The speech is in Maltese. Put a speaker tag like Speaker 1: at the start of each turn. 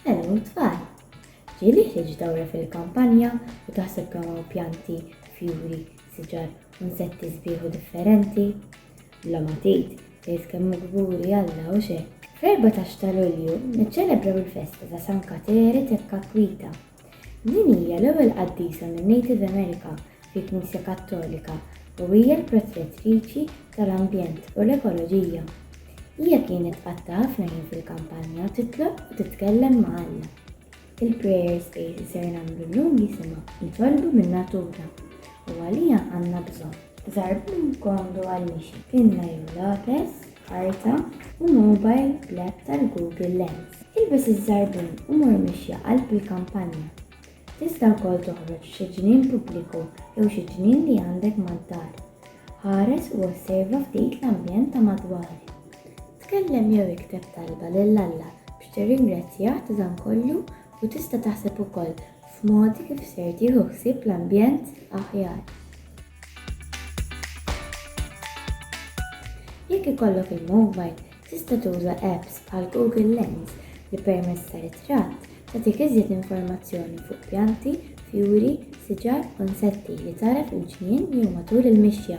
Speaker 1: Hello tfal! Ġieli ħriġ dawra fil-kampanja u taħseb kemm hawn pjanti, fjuri, siġar u nsetti sbieħ u differenti? Bla ma tgħid, tgħid kemm hu kburi Alla hux hekk! Fl-14 ta' Lulju niċċelebraw il-festa ta' San Kateri Teccaquita. Din hija l-ewwel qaddisa min-Native America fil-Knisja Kattolika u hija l-protetriċi tal-ambjent u l-ekoloġija. Hija kienet tqatta' ħafna ħin fil-kampanja u titlob u titkellem ma' Alla. Il-prayer space li ser nagħmlu llum jisimha Nitolbu min-Natura u għaliha għandna bżonn. Żgħar b'minn kondu għal nixi, tinna jew lapes, karta u mobile bl-app tal-Google Lens. Ilbes iż-żarbun u mur mixja qalb il-kampanja. Tista' wkoll toħroġ f'xi ġnien pubbliku jew xi ġnien li għandek mad-dar. Ħares u osserva ftit l-ambjent ta' madwarek. Tkellem jew ikteb talba lil Alla biex tirringrazzjah ta' dan kollu u tista' taħseb ukoll f'mod kif ser tieħu ħsieb l-ambjent aħjar. Jekk ikollok il-mowbajl, tista' tuża apps bħal Google Lens li permezz ta' ritratt tagħtik iżjed informazzjoni fuq pjanti, fjuri, siġar u nsetti li tara fil-ġnien jew matul il-mixja.